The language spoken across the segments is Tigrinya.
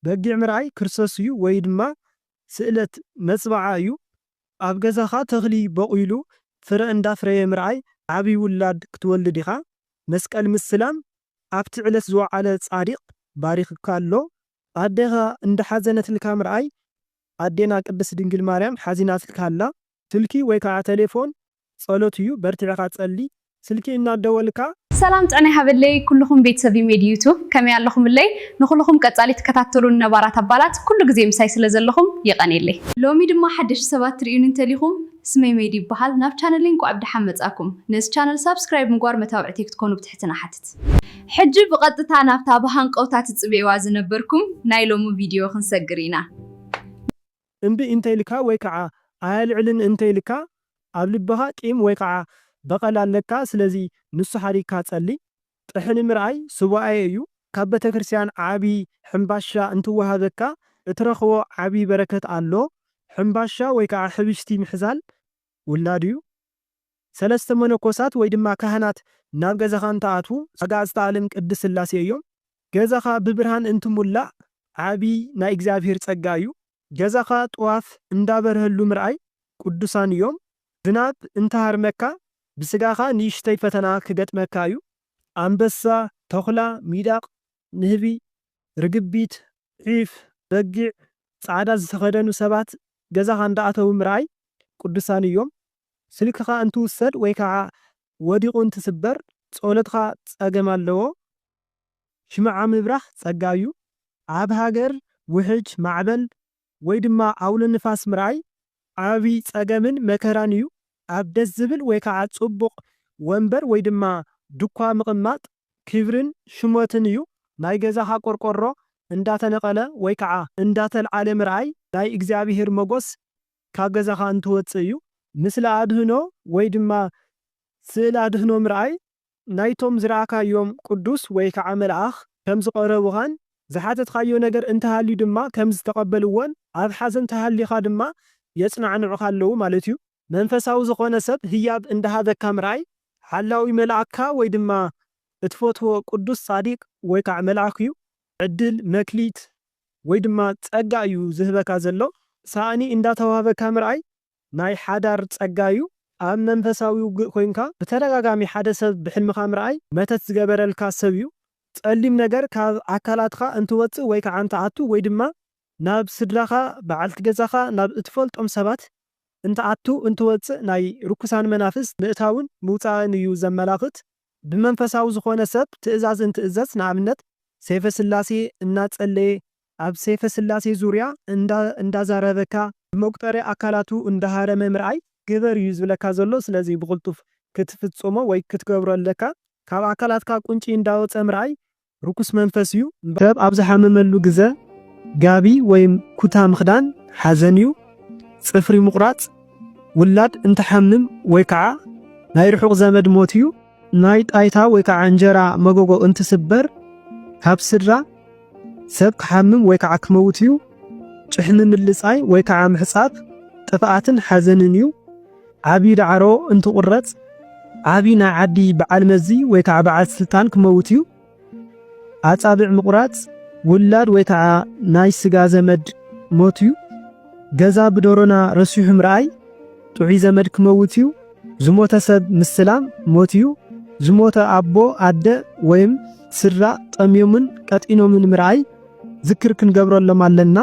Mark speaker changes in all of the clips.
Speaker 1: በጊዕ ምርኣይ ክርስቶስ እዩ ወይ ድማ ስእለት መፅብዓ እዩ። ኣብ ገዛኻ ተኽሊ ቦቂሉ ፍረ እንዳፍረየ ምርኣይ ዓብይ ውላድ ክትወልድ ኢኻ። መስቀል ምስላም ኣብቲ ዕለት ዝወዓለ ፃዲቅ ባሪኽካ ኣሎ። ኣዴኻ እንዳሓዘነትልካ ምርኣይ ኣዴና ቅድስት ድንግል ማርያም ሓዚናትልካ ኣላ። ስልኪ ወይ ከዓ ተሌፎን ጸሎት እዩ በርቲዕካ ጸሊ ስልኪ እናደወልካ። ሰላም ጥዕና
Speaker 2: ይሃበለይ ኩሉኹም ቤተሰብ ሜድ ዩቱብ ከመይ ኣለኹምለይ ንኹሉኹም ቀጻሊ ትከታተሉኒ ነባራት ኣባላት ኩሉ ግዜ ምሳይ ስለ ዘለኹም የቀኔለይ። ሎሚ ድማ ሓደሽቲ ሰባት ትርእዩኒ እንተሊኹም ስመይ ሜድ ይብሃል ናብ ቻነለይ እንቋዕ ብደሓን መጻእኩም ነዚ ቻነል ሳብስክራይብ ምግባር መታውዕተይ ክትኮኑ ብትሕትና እሓትት። ሕጂ ብቀጥታ ናብታ ብሃንቀውታ ትጽበይዋ ዝነበርኩም ናይ ሎሚ ቪድዮ ክንሰግር ኢና።
Speaker 1: እምቢ እንተኢልካ ወይ ከዓ ኣየልዕልን እንተኢልካ ኣብ ልብኻ ቂም ወይ ከዓ በቐል ኣለካ ስለዚ ንሱ ሓዲግካ ፀሊ ጥሕኒ ምርኣይ ሱባኤ እዩ ካብ ቤተክርስቲያን ዓብዪ ሕምባሻ እንትወሃበካ እትረኽቦ ዓብዪ በረከት ኣሎ ሕምባሻ ወይ ከዓ ሕብሽቲ ምሕዛል ውላድ እዩ። ሰለስተ መነኮሳት ወይ ድማ ካህናት ናብ ገዛኻ እንትኣትዉ ኣጋእዝተ ኣለም ቅድስት ስላሴ እዮም። ገዛኻ ብብርሃን እንትሙላእ ዓቢ ናይ እግዚኣብሔር ጸጋ እዩ። ገዛኻ ጥዋፍ እንዳበርሀሉ ምርኣይ ቅዱሳን እዮም። ዝናብ እንተሃርመካ ብስጋኻ ንእሽተይ ፈተና ክገጥመካ እዩ። ኣንበሳ፣ ተኹላ፣ ሚዳቕ፣ ንህቢ፣ ርግቢት፣ ዒፍ፣ በጊዕ፣ ጻዕዳ ዝተኸደኑ ሰባት ገዛኻ እንዳኣተዉ ምርኣይ ቅዱሳን እዮም። ስልክኻ እንትውሰድ ወይ ከዓ ወዲቑ እንትስበር ጸሎትኻ ጸገም ኣለዎ። ሽምዓ ምብራህ ጸጋ እዩ። ኣብ ሃገር ውሕጅ፣ ማዕበል ወይ ድማ ኣውሎ ንፋስ ምርኣይ ዓብይ ጸገምን መከራን እዩ። ኣብ ደስ ዝብል ወይ ከዓ ጽቡቕ ወንበር ወይ ድማ ድኳ ምቕማጥ ክብርን ሽሞትን እዩ። ናይ ገዛኻ ቆርቆሮ እንዳተነቐለ ወይ ከዓ እንዳተልዓለ ምርኣይ ናይ እግዚኣብሔር መጎስ ካብ ገዛኻ እንትወጽእ እዩ። ምስሊ ኣድህኖ ወይ ድማ ስእሊ ኣድህኖ ምርኣይ ናይቶም ዝረኣካዮም ቅዱስ ወይ ከዓ መልኣኽ ከም ዝቐረቡኻን ዝሓተትካዮ ነገር እንተሃልዩ ድማ ከም ዝተቐበልዎን ኣብ ሓዘን ተሃሊኻ ድማ የጽናዕንዑኻ ኣለዉ ማለት እዩ። መንፈሳዊ ዝኾነ ሰብ ህያብ እንዳሃበካ ምርኣይ ሓላዊ መልኣክካ ወይ ድማ እትፈትዎ ቅዱስ ጻዲቅ ወይ ከዓ መልኣኽ እዩ። ዕድል፣ መክሊት ወይ ድማ ጸጋ እዩ ዝህበካ ዘሎ። ሳእኒ እንዳተዋህበካ ምርኣይ ናይ ሓዳር ጸጋ እዩ። ኣብ መንፈሳዊ ውግእ ኮይንካ ብተደጋጋሚ ሓደ ሰብ ብሕልምኻ ምርኣይ መተት ዝገበረልካ ሰብ እዩ። ጸሊም ነገር ካብ ኣካላትኻ እንትወጽእ ወይ ከዓ እንትኣቱ ወይ ድማ ናብ ስድራኻ፣ በዓልቲ ገዛኻ፣ ናብ እትፈልጦም ሰባት እንትኣቱ እንትወጽእ ናይ ርኩሳን መናፍስት ምእታውን ምውጻእን እዩ ዘመላኽት። ብመንፈሳዊ ዝኾነ ሰብ ትእዛዝ እንትእዘዝ ንኣብነት ሰይፈ ስላሴ እናፀለየ ኣብ ሰይፈ ስላሴ ዙርያ እንዳዛረበካ ብመቁጠርያ ኣካላቱ እንዳሃረመ ምርኣይ ግበር እዩ ዝብለካ ዘሎ ስለዚ ብቅልጡፍ ክትፍፅሞ ወይ ክትገብሮ ኣለካ ካብ ኣካላትካ ቁንጪ እንዳወፀ ምርኣይ ርኩስ መንፈስ እዩ እምበር። ሰብ ኣብ ዝሓመመሉ ግዘ ጋቢ ወይም ኩታ ምኽዳን ሓዘን እዩ፣ ፅፍሪ ምቑራፅ፣ ውላድ እንትሓምም ወይ ከዓ ናይ ርሑቕ ዘመድ ሞት እዩ፣ ናይ ጣይታ ወይ ከዓ እንጀራ መጎጎ እንትስበር ካብ ስድራ ሰብ ክሓምም ወይ ከዓ ክመውት እዩ፣ ጭሕሚ ምልፃይ ወይ ከዓ ምሕፃብ ጥፍኣትን ሓዘንን እዩ። ዓቢ ዳዕሮ እንትቑረጽ ዓቢ ናይ ዓዲ በዓል መዚ ወይ ከዓ በዓል ስልጣን ክመውት እዩ። ኣጻብዕ ምቑራጽ ውላድ ወይ ከዓ ናይ ስጋ ዘመድ ሞት እዩ። ገዛ ብዶሮና ረሲሑ ምርኣይ ጥዑይ ዘመድ ክመውት እዩ። ዝሞተ ሰብ ምስላም ሞት እዩ። ዝሞተ ኣቦ፣ ኣደ ወይም ስድራ ጠምዮምን ቀጢኖምን ምርኣይ ዝክር ክንገብረሎም ኣለና።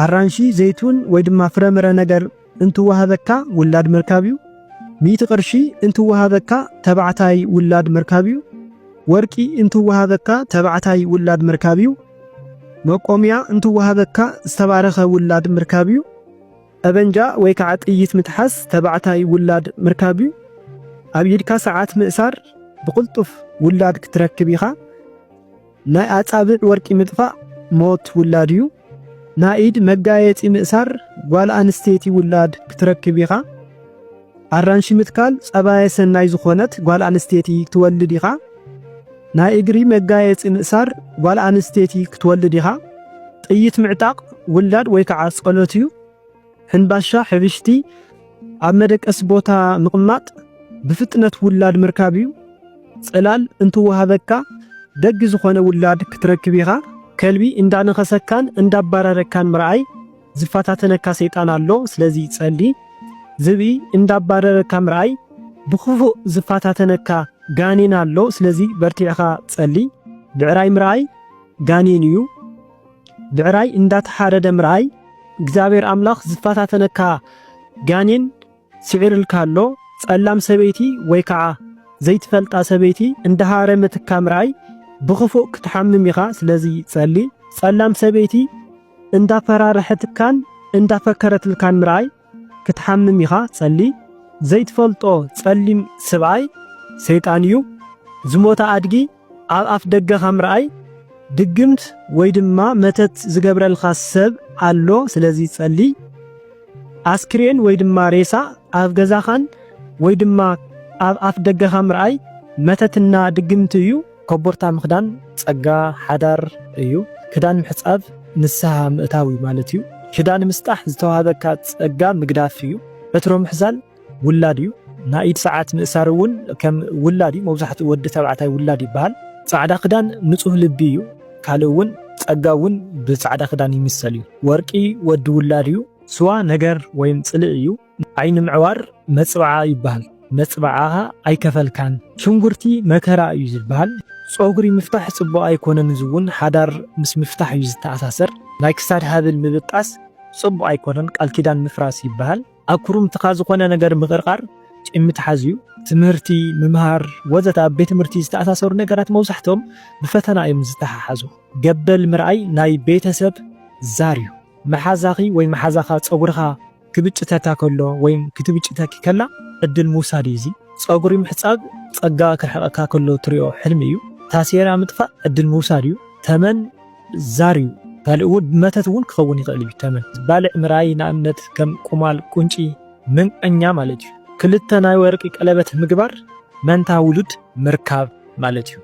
Speaker 1: ኣራንሺ፣ ዘይቱን ወይ ድማ ፍረምረ ነገር እንትወሃበካ ውላድ ምርካብ'ዩ፣ ሚእቲ ቅርሺ እንትወሃበካ ተባዕታይ ውላድ ምርካብ'ዩ፣ ወርቂ እንትወሃበካ ተባዕታይ ውላድ ምርካብ'ዩ፣ መቆምያ እንትወሃበካ ዝተባረኸ ውላድ ምርካብ'ዩ፣ ጠበንጃ ወይ ከዓ ጥይት ምትሓዝ ተባዕታይ ውላድ ምርካብ'ዩ፣ ኣብ ኢድካ ሰዓት ምእሳር ብቕልጡፍ ውላድ ክትረክብ ኢኻ። ናይ ኣጻብዕ ወርቂ ምጥፋእ ሞት ውላድ እዩ። ናይ ኢድ መጋየጺ ምእሳር ጓል ኣንስተይቲ ውላድ ክትረክብ ኢኻ። ኣራንሺ ምትካል ጸባየ ሰናይ ዝኾነት ጓል ኣንስተይቲ ክትወልድ ኢኻ። ናይ እግሪ መጋየጺ ምእሳር ጓል ኣንስተይቲ ክትወልድ ኢኻ። ጥይት ምዕጣቕ ውላድ ወይ ከዓ ጸሎት እዩ። ሕንባሻ ሕብሽቲ ኣብ መደቀሲ ቦታ ምቕማጥ ብፍጥነት ውላድ ምርካብ እዩ። ጽላል እንትወሃበካ ደግ ዝኾነ ውላድ ክትረክብ ኢኻ። ከልቢ እንዳነኸሰካን እንዳባረረካን ምርኣይ ዝፈታተነካ ሰይጣን ኣሎ ስለዚ ጸሊ። ዝብኢ እንዳባረረካ ምርኣይ ብክፉእ ዝፈታተነካ ጋኔን ኣሎ ስለዚ በርቲዕኻ ጸሊ። ብዕራይ ምርኣይ ጋኔን እዩ። ብዕራይ እንዳተሓረደ ምርኣይ እግዚኣብሔር ኣምላኽ ዝፈታተነካ ጋኔን ስዒሩልካ ኣሎ። ጸላም ሰበይቲ ወይ ከዓ ዘይትፈልጣ ሰበይቲ እንዳሃረመትካ ምርኣይ ብኽፉእ ክትሓምም ኢኻ። ስለዚ ጸሊ። ጸላም ሰበይቲ እንዳፈራርሐትካን እንዳፈከረትልካን ምርኣይ ክትሓምም ኢኻ ጸሊ ዘይትፈልጦ ጸሊም ስብኣይ ሰይጣን እዩ ዝሞተ ኣድጊ ኣብ ኣፍ ደገኻ ምርኣይ ድግምት ወይ ድማ መተት ዝገብረልካ ሰብ ኣሎ ስለዚ ጸሊ ኣስክሬን ወይ ድማ ሬሳ ኣብ ገዛኻን ወይ ድማ ኣብ ኣፍ ደገኻ ምርኣይ መተትና ድግምት እዩ ኮቦርታ ምኽዳን ጸጋ ሓዳር እዩ። ክዳን ምሕጻብ ንስሃ ምእታው እዩ ማለት እዩ። ክዳን ምስጣሕ ዝተዋህበካ ጸጋ ምግዳፍ እዩ። ዕትሮ ምሕዛል ውላድ እዩ። ናይ ኢድ ሰዓት ምእሳር እውን ከም ውላድ እዩ። መብዛሕትኡ ወዲ ተባዕታይ ውላድ ይበሃል። ጻዕዳ ክዳን ንጹህ ልቢ እዩ። ካልእ እውን ጸጋ እውን ብጻዕዳ ክዳን ይምሰል እዩ። ወርቂ ወዲ ውላድ እዩ። ስዋ ነገር ወይም ጽልኢ እዩ። ዓይኒ ምዕዋር መጽብዓ ይበሃል መጽብዓኻ ኣይከፈልካን ሽንጉርቲ መከራ እዩ ዝበሃል ጾጉሪ ምፍታሕ ጽቡቅ ኣይኮነን እዚ ውን ሓዳር ምስ ምፍታሕ እዩ ዝተኣሳሰር ናይ ክሳድ ሃብል ምብጣስ ጽቡቅ ኣይኮነን ቃል ኪዳን ምፍራስ ይበሃል ኣብ ኩርምትኻ ዝኾነ ነገር ምቅርቃር ቂም ምትሓዝ እዩ። ትምህርቲ ምምሃር ወዘተ ኣብ ቤት ትምህርቲ ዝተኣሳሰሩ ነገራት መብዛሕትኦም ብፈተና እዮም ዝተሓሓዙ ገበል ምርኣይ ናይ ቤተሰብ ዛር እዩ መሓዛኺ ወይ መሓዛኻ ጸጉርኻ ክብጭተካ ከሎ ወይም ክትብጭተኪ ከላ ዕድል ምውሳድ እዩ እዚ። ጸጉሪ ምሕጻብ ጸጋ ክርሕቀካ ከሎ ትሪኦ ሕልሚ እዩ። ታሴራ ምጥፋእ ዕድል ምውሳድ እዩ። ተመን ዛር እዩ። ካልእ እውን ብመተት እውን ክኸውን ይኽእል እዩ። ተመን ባልዕ ምርኣይ ንኣብነት ከም ቁማል፣ ቁንጪ፣ ምንቀኛ ማለት እዩ። ክልተ ናይ ወርቂ ቀለበት ምግባር መንታ ውሉድ ምርካብ። ማለት እዩ።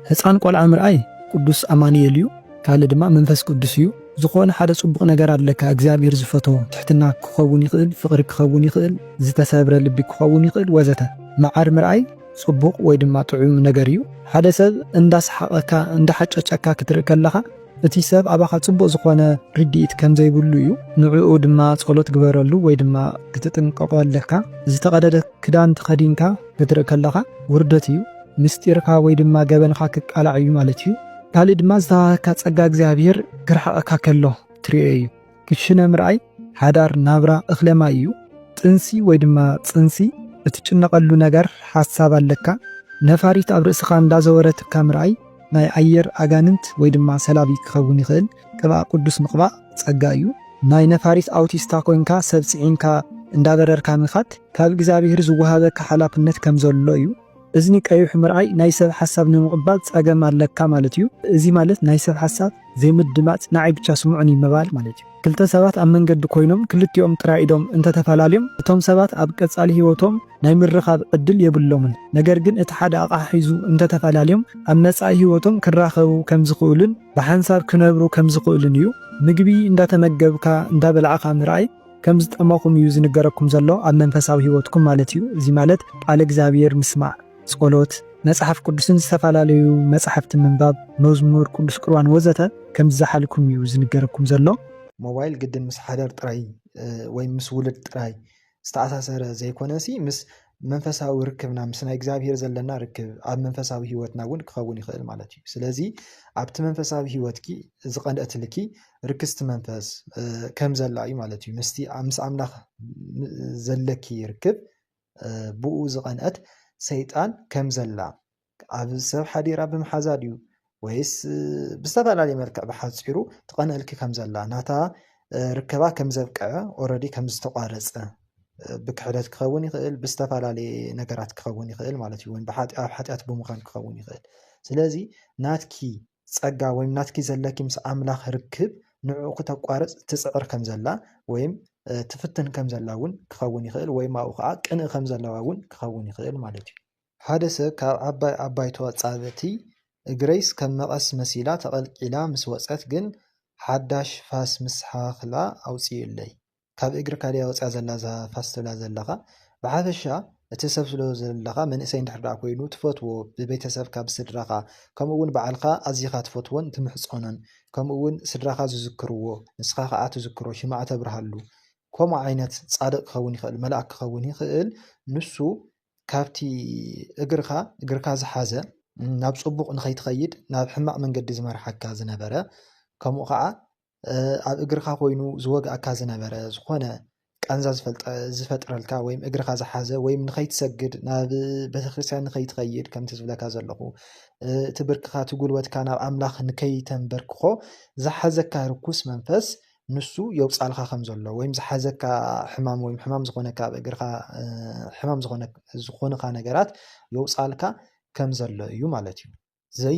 Speaker 1: ህጻን ቆልዓ ምርኣይ ቅዱስ ኣማኑኤል እዩ ካልእ ድማ መንፈስ ቅዱስ እዩ። ዝኾነ ሓደ ጽቡቕ ነገር ኣለካ እግዚኣብሔር ዝፈትዎ ትሕትና ክኸውን ይኽእል ፍቕሪ ክኸውን ይኽእል ዝተሰብረ ልቢ ክኸውን ይኽእል ወዘተ መዓር ምርኣይ ጽቡቕ ወይ ድማ ጥዑም ነገር እዩ። ሓደ ሰብ እንዳሰሓቐካ እንዳሓጨጨካ ክትርኢ ከለኻ እቲ ሰብ ኣባኻ ጽቡቕ ዝኾነ ርድኢት ከም ዘይብሉ እዩ፣ ንዕኡ ድማ ጸሎት ግበረሉ ወይ ድማ ክትጥንቀቖ ኣለካ። ዝተቐደደ ክዳን ተኸዲንካ ክትርእ ከለኻ ውርደት እዩ፣ ምስጢርካ ወይ ድማ ገበንካ ክቃላዕ እዩ ማለት እዩ። ካልእ ድማ ዝተዋህበካ ጸጋ እግዚኣብሄር ክርሕቐካ ከሎ ትርእዮ እዩ። ክሽነ ምርኣይ ሓዳር ናብራ እኽለ ማይ እዩ። ጥንሲ ወይ ድማ ጽንሲ እትጭነቐሉ ነገር ሓሳብ ኣለካ። ነፋሪት ኣብ ርእስኻ እንዳዘወረትካ ምርኣይ ናይ ኣየር ኣጋንንት ወይ ድማ ሰላቢ ክኸውን ይኽእል። ቅብኣ ቅዱስ ምቕባእ ጸጋ እዩ። ናይ ነፋሪት ኣውቲስታ ኮይንካ ሰብ ጽዒንካ እንዳበረርካ ምኻድ ካብ እግዚኣብሄር ዝወሃበካ ሓላፍነት ከም ዘሎ እዩ። እዝኒ ቀይሑ ምርኣይ ናይ ሰብ ሓሳብ ንምቕባል ጸገም ኣለካ ማለት እዩ። እዚ ማለት ናይ ሰብ ሓሳብ ዘይምድማጽ ንዓይ ብቻ ስምዑኒ ምባል ማለት እዩ። ክልተ ሰባት ኣብ መንገዲ ኮይኖም ክልቲኦም ጥራይ ኢዶም እንተተፈላልዮም እቶም ሰባት ኣብ ቀጻሊ ህይወቶም ናይ ምርኻብ ዕድል የብሎምን። ነገር ግን እቲ ሓደ ኣቕሓ ሒዙ እንተተፈላልዮም ኣብ መጻኢ ህይወቶም ክራኸቡ ከምዝኽእሉን ብሓንሳብ ክነብሩ ከምዝኽእሉን እዩ። ምግቢ እንዳተመገብካ እንዳበላዕኻ ምርኣይ። ከም ዝጠመኹም እዩ ዝንገረኩም ዘሎ ኣብ መንፈሳዊ ህይወትኩም ማለት እዩ እዚ ማለት ቃለ እግዚኣብሔር ምስማዕ ጾሎት መጽሓፍ ቅዱስን ዝተፈላለዩ መጻሕፍቲ ምንባብ መዝሙር ቅዱስ ቁርባን ወዘተ ከም ዝዘሓልኩም እዩ ዝንገረኩም ዘሎ። ሞባይል ግድን ምስ ሓዳር ጥራይ ወይ ምስ ውሉድ ጥራይ ዝተኣሳሰረ ዘይኮነሲ ምስ መንፈሳዊ ርክብና ምስ ናይ እግዚኣብሄር ዘለና ርክብ ኣብ መንፈሳዊ ህይወትና እውን ክኸውን ይኽእል ማለት እዩ ስለዚ ኣብቲ መንፈሳዊ ህይወትኪ ዝቐንአትልኪ ርክስቲ መንፈስ ከም ዘላ እዩ ማለት እዩ ምስቲ ምስ ኣምላኽ ዘለኪ ርክብ ብኡ ዝቐንአት ሰይጣን ከም ዘላ ኣብ ሰብ ሓዲራ ብምሓዛ ድዩ ወይስ ብዝተፈላለየ መልክዕ ብሓፂሩ ትቐንኣልኪ ከም ዘላ ናታ ርከባ ከም ዘብቅዐ ኦረዲ ከም ዝተቋረፀ ብክሕደት ክኸውን ይኽእል ብዝተፈላለየ ነገራት ክኸውን ይኽእል ማለት እዩ ወይም ኣብ ሓጢኣት ብምዃን ክኸውን ይኽእል ስለዚ ናትኪ ፀጋ ወይም ናትኪ ዘለኪ ምስ ኣምላኽ ርክብ ንዕኡ ክተቋርፅ ትፅዕር ከም ዘላ ወይም ትፍትን ከም ዘላ እውን ክኸውን ይኽእል ወይም ኣብኡ ከዓ ቅንእ ከም ዘለዋ እውን ክኸውን ይኽእል ማለት እዩ ሓደ ሰብ ካብ ዓባይ ዓባይቶ ኣጻብዕቲ እግረይስ ከም መቐስ መሲላ ተቐልቂላ ምስ ወጸት ግን ሓዳሽ ፋስ ምስ ሓኽላ ኣውጺኡለይ። ካብ እግርካ ድያ ወጽያ ዘላ እዛ ፋስ ትብላ ዘለኻ? ብሓፈሻ እቲ
Speaker 3: ሰብ ስለ ዘለኻ መንእሰይ እንድሕር ደኣ ኮይኑ ትፈትዎ ብቤተሰብካ ብስድራኻ ከምኡ'ውን ባዕልካ ኣዚኻ ትፈትዎን ትምሕጸኖን ከምኡ'ውን ስድራኻ ዝዝክርዎ ንስኻ ከኣ ትዝክሮ ሽምዓ ተብርሃሉ ከምኡ ዓይነት ጻድቕ ክኸውን ይኽእል መልኣክ ክኸውን ይኽእል ንሱ ካብቲ እግርኻ እግርካ ዝሓዘ ናብ ጽቡቕ ንኸይትኸይድ ናብ ሕማቕ መንገዲ ዝመርሓካ ዝነበረ ከምኡ ከዓ ኣብ እግርካ ኮይኑ ዝወግኣካ ዝነበረ ዝኾነ ቃንዛ ዝፈጥረልካ ወይም እግርካ ዝሓዘ ወይም ንኸይትሰግድ ናብ ቤተክርስትያን ንኸይትኸይድ ከምቲ ዝብለካ ዘለኹ እቲ ብርክኻ እቲ ጉልበትካ ናብ ኣምላኽ ንከይተንበርክኾ ዝሓዘካ ርኩስ መንፈስ ንሱ የውጻልካ ከም ዘሎ ወይም ዝሓዘካ ሕማም ወይም ሕማም ዝኾነካ ኣብ እግርካ ሕማም ዝኾነ ዝኾንካ ነገራት የውጻልካ ከም ዘሎ እዩ ማለት እዩ። ዘይ